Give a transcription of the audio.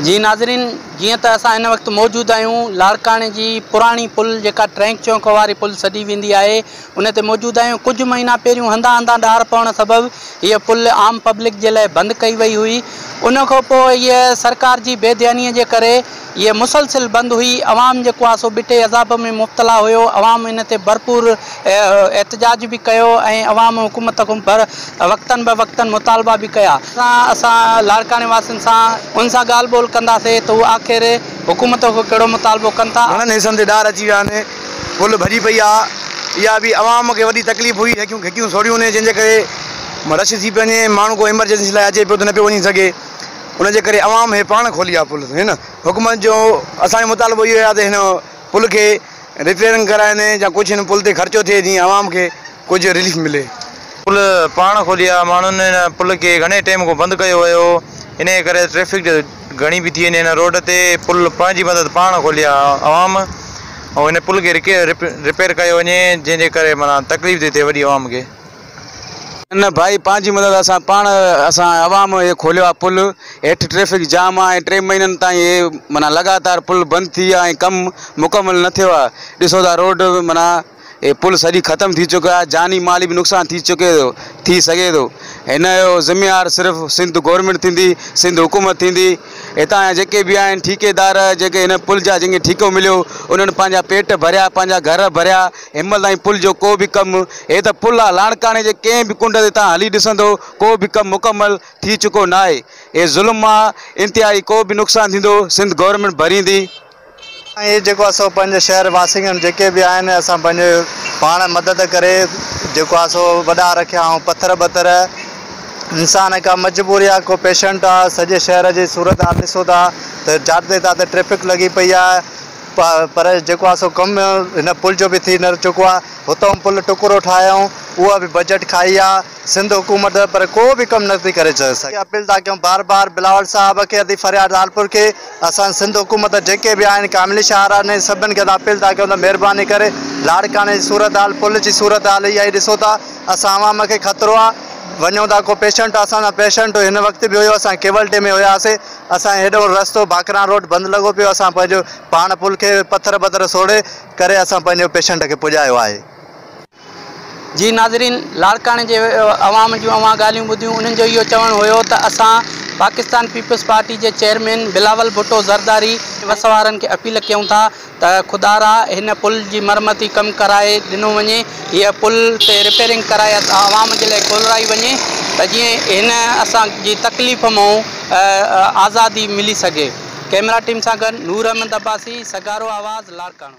جي ناظرين جيئن ته اسان هن وقت موجود آهيون لاڙڪاڻي جي پراڻي پل جيڪا ٽرينڪ چونڪ واري پل سڏي ويندي آهي ان تي موجود آهيون ڪجهه مهينا پهريون هنڌان هنڌان ڏار پوڻ سبب هيء پل عام پبلڪ جي لاء بند ڪئي وئي هئي ان کان پوء هيء سرڪار جي بي ڌياني جي ڪري هيء مسلسل بند هئي عوام جيڪو آهي سو ٻٽي عذاب ۾ مبتلا هيو عوام ان تي ڀرپور احتجاج به ڪيو ۽ عوام حڪومت کان وقتن به وقتن مطالبا به ڪيا. اسان لاڙڪاڻي واسين سان انهن سان ڳالهه ٻولهه ڪنداسين ته هو آخر حڪومت کان ڪهڙو مطالبو ڪن ٿا. گهڻن حصن تي ڏار اچي ويا آهن، پل ڀڄي پئي آ، اها به عوام کي وڏي تڪليف هئي، هيڪيون گهٽيون سوڙهيون هونيون جنهن جي ڪري رش ٿي پيو وڃي، ماڻهو ڪو ايمرجنسي لاء اچي پيو ته نه پيو وڃي سگهي، ان جي ڪري عوام هي پاڻ کولي آ پل، هن حڪومت جو اسان جو مطالبو اهو آ ته هن پل کي. رپيرنگ ڪرائين يا ڪجهه هن پل تي خرچو ٿئي جيئن عوام کي ڪجهه رليف ملي. پل پاڻ کولي آ، ماڻهن هن پل کي گهڻي ٽيم کان بند ڪيو هيو انهي ڪري ٽريفڪ گهڻي بيٺي هن هن روڊ تي پل پنهنجي مدد پاڻ کولي آ عوام ۽ هن پل کي رپير ڪيو وڃي جنهن جي ڪري معنيٰ تڪليف ٿي ٿئي وڏي عوام کي. نه ڀائي پنهنجي مدد اسان پاڻ اسان عوام اهي کوليو آهي پل هيٺ ٽريفڪ جام آهي ۽ ٽي مهينن تائين اهي معنيٰ لڳاتار پل بند ٿي ويا ۽ ڪم مڪمل نه ٿيو آهي ڏسو ٿا روڊ معنيٰ اهي پل سڄي ختم ٿي چڪي آهي جاني مالي به نقصان ٿي چڪي ٿو ٿي سگهي ٿو هن جو ذميوار صرف سنڌ گورنمينٽ ٿيندي سنڌ حڪومت ٿيندي هتان جا جيڪي به آهن ٺيڪيدار جيڪي هن پل جا جن کي ٺيڪو مليو انهن پنهنجا پيٽ ڀريا پنهنجا گهر ڀريا همت ۽ پل جو ڪو به ڪم هي ته پل آ لاڙڪاڻي جي ڪنهن به ڪنڊ تي توهان هلي ڏسندو ڪو به ڪم مڪمل ٿي چڪو ناهي اهي ظلم مان انتهائي ڪو به نقصان ٿيندو سنڌ گورنمينٽ ڀريندي ۽ اهي جيڪو آ سو پنهنجي شهر واسين جيڪي به آهن اسان پنهنجي پاڻ مدد ڪري جيڪو آ سو وڏا رکيا هون پٿر ٻٿر انسان ڪا مجبوري آ ڪو پيشنٽ آ سڄي شهر جي صورت حال ڏسو ٿا ته جاڏتي تاته ٽريفڪ لڳي پئي آ پر جيڪو آهي سو ڪم هن پل جو به ٿي نه چڪو آهي. هتئون پل ٽڪرو ٺاهيائون، اها به بجيٽ کائي آهي سنڌ حڪومت پر ڪو به ڪم نه ٿي ڪري سگهي. اپيل ٿا ڪيون بار بار بلاول صاحب کي ادي فرياد لالپور کي اسان سنڌ حڪومت جيڪي به آهن ڪاملي شاهراهه سڀن کي اسان اپيل ٿا ڪيون ته مهرباني ڪري لاڙڪاڻي جي صورتحال پل جي صورتحال اها ئي ڏسو ٿا اسان عوام کي خطرو آهي وڃون ٿا ڪو پيشنٽ اسان سان پيشنٽ هن وقت به هيو اسان ڪيولٽي ۾ هياسي اسان جو هيڏهون رستو باقران روڊ بند لڳو پيو اسان پنهنجو پاڻ پل کي پٿر بٿر سوڙهي ڪري اسان پنهنجو پيشنٽ کي پڄايو آهي. جي ناظرين لاڙڪاڻي جي عوام جون اوهان ڳالهيون ٻڌيون انهن جو اهو چوڻ هيو ته اسان پاڪستان پيپلز پارٽي جي چيئرمين بلاول ڀٽو زرداري وس وارن کي اپيل ڪيون ٿا ته خدارا هن پل جي مرمتي ڪم ڪرائي ڏنو وڃي هيء پل تي رپيرنگ ڪرائي عوام جي لاء کولرائي وڃي ته جيئن هن اسان جي تڪليف مئون آزادي ملي سگهي ڪئميرا ٽيم سان گڏ نور احمد عباسي سگهارو آواز لاڙڪاڻو.